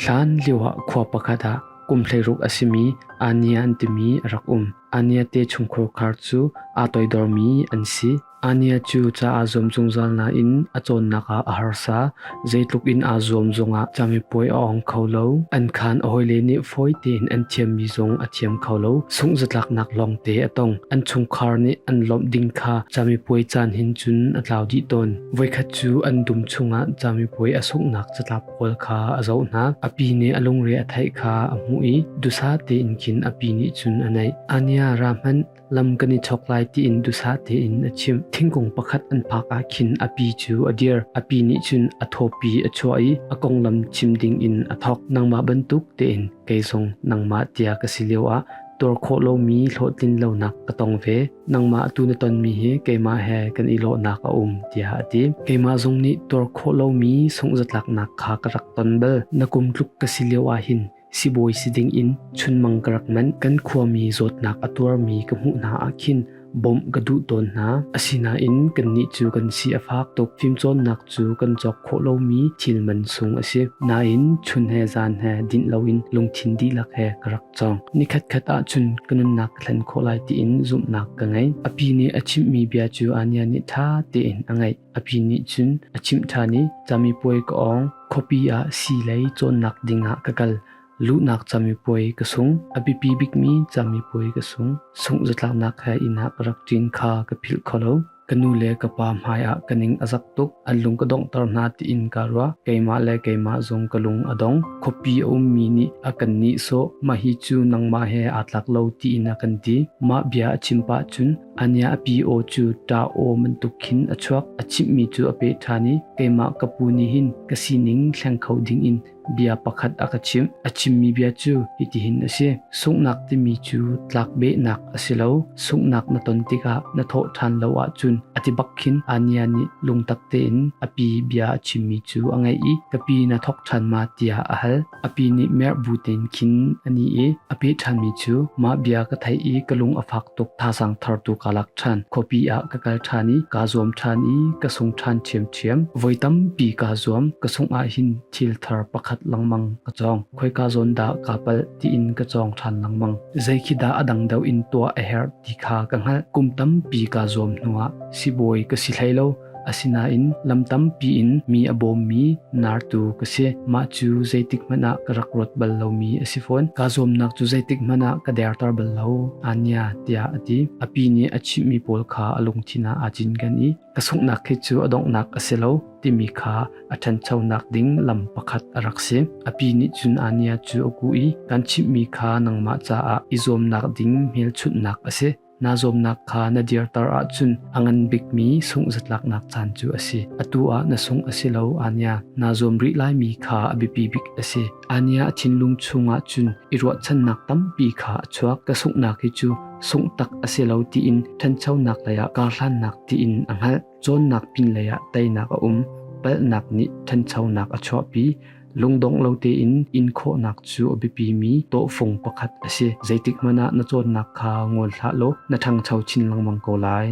Hlan lioah khua pakhat ah kum hleiruk a simi Ania an timi a rak um. Ania te chungkhar khar cu aa toidormi an si. Ania cu ca aa zuam zungzal nain a cawnnak ah a harsa. Zeitluk in aa zuam zongah camipuai a ong kho lo. An khaan a hawile nih fawi tein an thiammi zong a thiam kho lo. Sungh zatlaknak lawngte a tong. An chungkhar nih an lawmh ding kha camipuai caan hin cun a tlau dih tawn. Voikhat Cu an dum chungah camipuai a sunghnak catlap pawl kha a zohnak, a pi nih a lungre a theih kha a hmuh i dusa tein khin a pi nih cun a naih. Ania ra hmanh lam kan i chok lai tiin dusa tein a chimh. Thingkung pakhat an phak ah khin a pi cu a dir. A pi nih cun a thawpi a chuah i a konglam chim ding in a thawk. Nangmah bantuk tein kei zong nangmah tia ka si lio ah tuar khawh lomi hlawhtlinlonak ka tong ve. Nangmah atu na tonmi hi keimah he kan i lawhnak a um tiah a ti. Keimah zong nih tuar khawh lomi sungzatlaknak kha ka rak ton bal. Na kum tluk ka si lio ahhin sibawi si ding in chunmang ka rak manh. Kan khuami zawtnak a tuarmi ka hmuh hna ah khin Bawmh ka duh tawn hna. Asinain kannih cu kan si a fak tuk. Fimcawnnak cu kan cawk khawh lomi thil man sung a si. Nain chun he zan he dinh loin lungthin dihlak he ka rak cawng. Nikhatkhat ahcun ka nunnak ka thlen khawh lai tiin zumhnak ka ngei. A pi nih a chimhmi bia cu Ania nih ṭha tein a ngaih. A pi nih cun a chimh ṭhan i camipuai ka awng. Khuapi ah sii lei cawnnak ding ah ka kal. Luhnak camipuai ka sung. A biapi bikmi camipuai ka sung. Sungh zatlaknak he inn ah ka rak ṭin kha ka philh kho lo. Ka nu le ka pa hmai ah ka ning a zak tuk. An lung ka donghter hna tiin kaa ruah. Keimah le keimah zong ka lung a dong. Khuapi a ummi nih a kan nihsawh. Mah hi cu nangmah he aa tlak lo tiin a kan ti. Mah bia a chim pah cun ania a pi aw cu ṭa aw bantuk khin a chuak. A chimhmi cu a peh ṭhan i keimah ka pu nih hin ka sining thleng kho ding in Bia pakhat a ka chimh. A chimmi bia cu hitihin a si: Sunghnak timi cu tlakbehnak a si lo. Sunghnak na ton tikah na thawh ṭhan lo ahcun a ti bak khin Ania nih lungtak tein a pi bia a chimmi cu a ngaih i ka pi na thawk ṭhan ma tiah a hal. A pi nih merh bu tein khin a ni i a peh ṭhanmi cu mah bia ka theih i ka lung a fak tuk thazaang thartu kaa lak ṭhan. Khuapi ah ka kal ṭhan i kaa zuam ṭhan i ka sung ṭhan ṭhiamṭhiam. thiam. Voi tampi kaa zuam. Ka sungh ah hin thil thar pakhat lengmang ka cawng. Khoika zawn dah kaa palh tiin ka cawng ṭhan lengmang. Zei khi dah a dang deuh in tuah a herh ti kha ka hngalh. Kum tampi kaa zuam hnuah sibawi ka si hlei lo. Asinain lam tampi in mi a bawmmi nartu ka si. Mah cu zeitik hmanh ah ka rak ruat bal lomi a si fawn. Kaa zuamnak cu zeitik hmanh ah ka derter bal lo. Anya tiah a ti. A pi nih a chimhmi pawl kha a lungthin ah aa cinken i Ka sunghnak hi cu a donghnak a si lo timi kha a ṭhanchonak ding lam pakhat a rak si. A pi nih cun Ania cu a kuh i, Kan chimhmi kha nangmah caah i zuamnak ding hmelchunhnak a si. Naa zuamnak kha na dirter ahcun a ngan bikmi sunghzatlaknak caan cu a si. Atu ah na sungh a si lo, Ania. Naa zuam rih laimi kha a biapi bik a si. Ania a thinlung chungah cun i ruahchannak tampi kha a chuak. Ka sunghnak hi cu sungh tak a si lo tiin ṭhanchonak leiah karhlannak tiin a hngalh cawnnak pinlei ah teinak a um palhnak nih ṭhanchonak a chuahpi lungdong lo tein inkhawhnak cu a biapimi tawhfung pakhat a si zeitik hmanh ah na cawnnak kha ngol hlah law na ṭhangcho chin lengmang ko lai